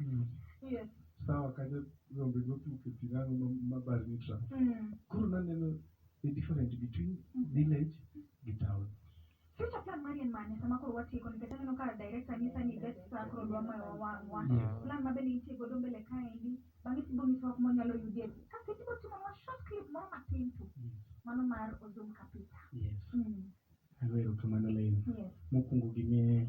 Mm. Yeah. sawa kanyo rombe notuke pi nang'o ma- ma bar ni tra Mm. koro naneno the difference between village gi town Future plan mari en mane sama koro watieko nikech aneno ka director nyisa ni bet sa koro dwa moyo wawang'wa. Yeah. Plan ma bende nitie godo mbele kaendi bang'e tibo nyiso wak monyalo yudie. Kasto tibo timo nwa short clip moro matin tu. Mano mar Ozum Kapita. yes Mm. ago erokamano lain Yes. mokwongo gimie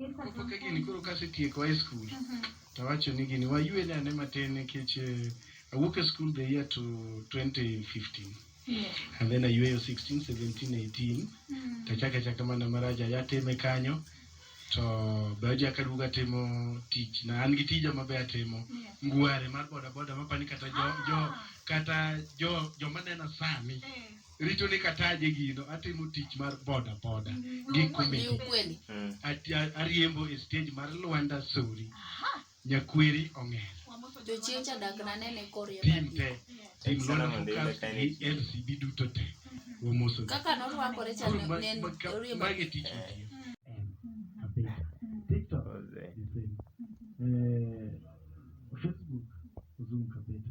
Moko ka gini koro kasetieko high school mhm. to awacho ni gini waywe ne ane matin nikech eh, awuok e school the year to 2015 Yeah. And then ayueyo 16, 17, 18 mm. tachaka chaka mana maraja yateme kanyo to be oja kaduoga timo tich na an gi tija mabe atimo yeah. ngware mar bodaboda mapani kata jo, ah. jo kata jo joma nena sani yeah. richo ni kataje gino atimo tich mar boda boda gi komedi mm. ariembo e stage mar Lwanda Sori nyakweri ong'er tim te tim Lwanda Focus gi LCB duto te wamoso kaka norwakore cha ne oriembo magi tich mitiyo TikTok eh, Facebook Zoom kabisa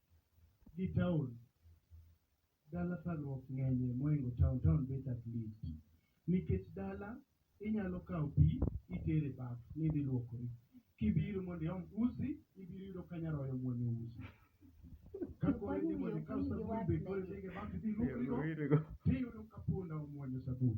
gi town dala tharuok ngenye mohingo town, town bet at least nikech dala inyalo kao pii itere baf nidhi luokori kibiro mondo iom usi ibiro yudo ka nyaroya omuonyo usi kakoro idhi mondo ikaw sabun be koro idhi go e baf idhi iluokri go tiyudo ka punda omuonyo sabun